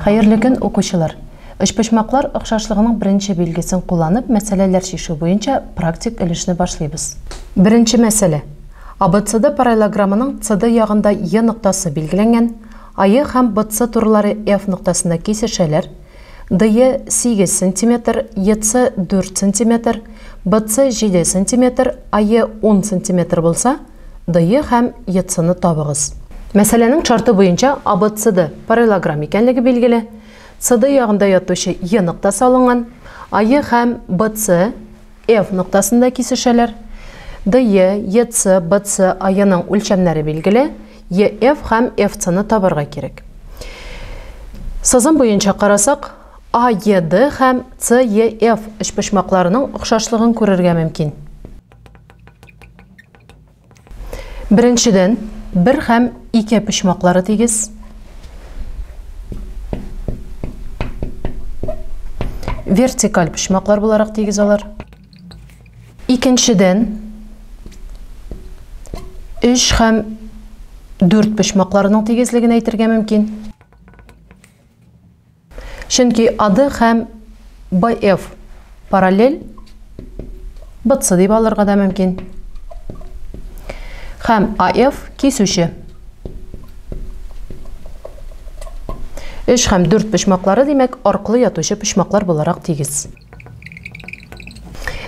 Хәерле көн, укучылар! Өчпочмаклар охшашлыгының беренче билгесен кулланып, мәсьәләләр чишү буенча практик өлешне башлыйбыз. Беренче мәсьәлә. АБЦД параллелограммының CD ягында Е ноктасы билгеләнгән, АЕ һәм BC турылары F ноктасында кисешәләр, DE 8 сантиметр, EC 4 сантиметр, BC 7 сантиметр, AE 10 сантиметр булса, DE һәм ECны табыгыз. Мәсьәләнең шарты буенча АБЦД параллелограмм икәнлеге билгеле, CD ягында ятучы Е ноктасы алынган, АЕ һәм BC F ноктасында кисешәләр. DE, EC, BC аеның үлчәмнәре билгеле, EF һәм FC ны табарга кирәк. Сызым буенча карасак, AED һәм CEF өчпочмакларының охшашлыгын күрергә мөмкин. Беренчедән, бер һәм ике почмаклары тигез. Вертикаль почмаклар буларак тигез алар. Икенчедән, 3 һәм 4 почмакларының тигезлеген әйтергә мөмкин. Чөнки AD һәм BF параллель, BC дип алырга да мөмкин. Һәм AF кисүче. 3 һәм 4 почмаклары, димәк, аркылы ятучы почмаклар буларак тигез.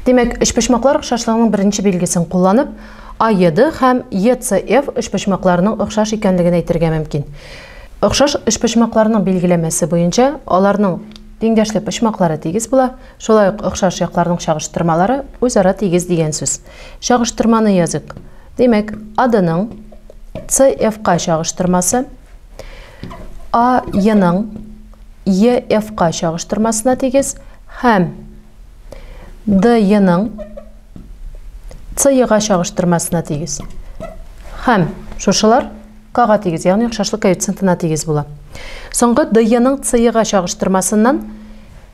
Димәк, өчпочмаклар охшашлыгының беренче билгесен кулланып, АЕД һәм ЕЦФ өчпочмакларының охшаш икәнлеген әйтергә мөмкин. Охшаш өчпочмакларның билгеләмәсе буенча аларның тиңдәшле почмаклары тигез була, шулай ук охшаш якларның чагыштырмалары үзара тигез дигән сүз. Чагыштырманы языйк. Димәк, АДның ның ка чагыштырмасы А еның Е F-ка чагыштырмасына тигез һәм Д еның С ега чагыштырмасына тигез. Һәм шушылар К-га тигез, ягъни охшашлык коэффициентына тигез була. Соңгы Д еның С ега чагыштырмасыннан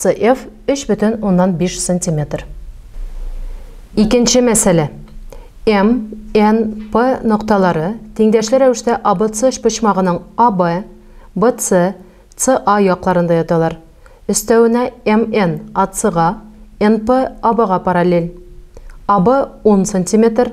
CF 3,5 сантиметр. Икенче мәсьәлә. М, Н, П нокталары тиңдәшле рәвештә ABC өчпочмагының AB, BC, CA якларында яталар. Өстәвенә МН АЦга, НП АБга параллель. AB 10 сантиметр,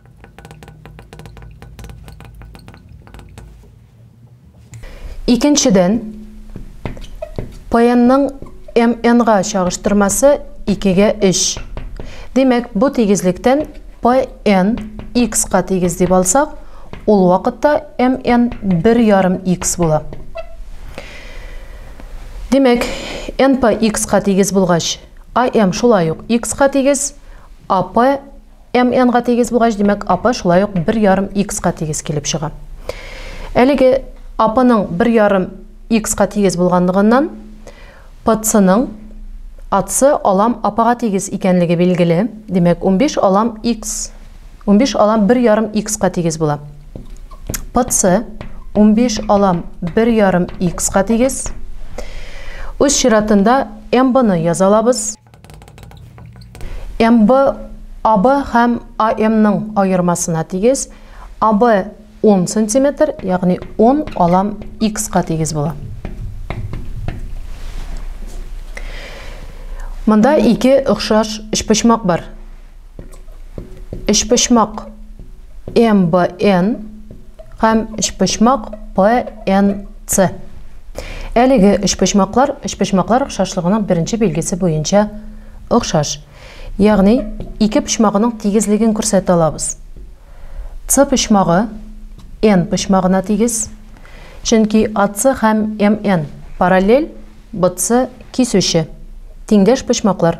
Икенчедән, паянның МН-га чагыштырмасы 2-гә 3. Димәк, бу тигезлектән пн x-ка тигез дип алсак, ул вакытта mn 1,5x була. Димәк, n по x-ка тигез булгач, am шулай ук x-ка тигез, ap MN га тигез булгач, димәк, АП шулай ук 1 ярым X ка тигез килеп чыга. Әлеге АПның 1 ярым X ка тигез булганлыгыннан, ПЦның АЦ алам АПга тигез икәнлеге билгеле. Димәк, 15 алам X, 15 алам 1 ярым X ка тигез була. ПЦ 15 алам 1 ярым X ка тигез. Үз чиратында МБны язалабыз. МБ АБ һәм АМның аермасына тигез. АБ 10 сантиметр, ягъни 10 алам X-ка тигез була. Монда ике охшаш өчпочмак бар. Өчпочмак МБН һәм өчпочмак ПНЦ. Әлеге өчпочмаклар өчпочмаклар охшашлыгының беренче билгесе буенча охшаш. Ягъни, ике почмагының тигезлеген күрсәтә алабыз. С почмагы N почмагына тигез, чөнки AC һәм MN параллель, BC кисүче, тиңдәш почмаклар.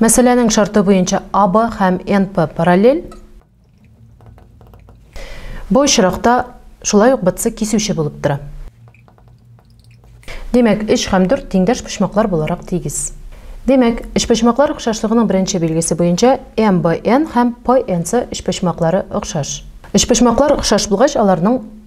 Мәсьәләнең шарты буенча АБ һәм НП параллель. Бу очракта шулай ук БЦ кисүче булып тора. Димәк, 3 һәм 4 тиңдәш почмаклар буларак тигез. Димәк, өчпочмаклар охшашлыгының беренче билгесе буенча МБН һәм ПНЦ өчпочмаклары охшаш. Өчпочмаклар охшаш булгач, аларның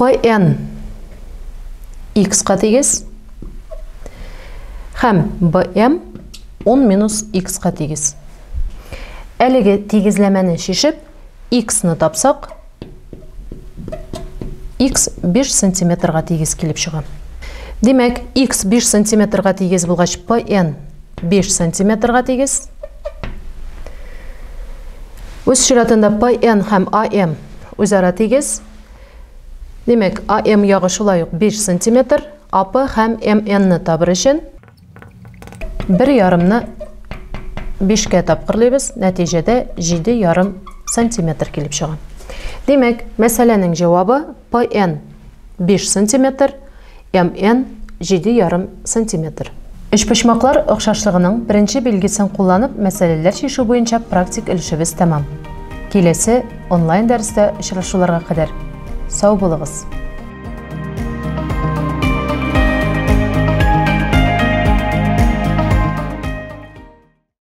Pn x-ка тигез һәм bm 10 минус x-ка тигез. Әлеге тигезләмәне шешеп, x-ны тапсак, x 5 сантиметрга тигез килеп чыга. Димәк, x 5 сантиметрга тигез булгач, pn 5 сантиметрга тигез. Үз чиратында ПН һәм АМ үзара тигез. Демәк, АМ ягы шулай ук 5 сантиметр. АП һәм МН-ны табыр өчен бер ярымны 5-кә тапкырлыйбыз, нәтиҗәдә 7 ярым сантиметр килеп чыга. Демәк, мәсьәләнең җавабы ПН 5 сантиметр, MN, җиде ярым сантиметр. Өчпочмаклар охшашлыгының беренче билгесен кулланып мәсьәләләр чишү буенча практик өлешебез тәмам. Киләсе онлайн дәрестә очрашуларга кадәр сау булыгыз!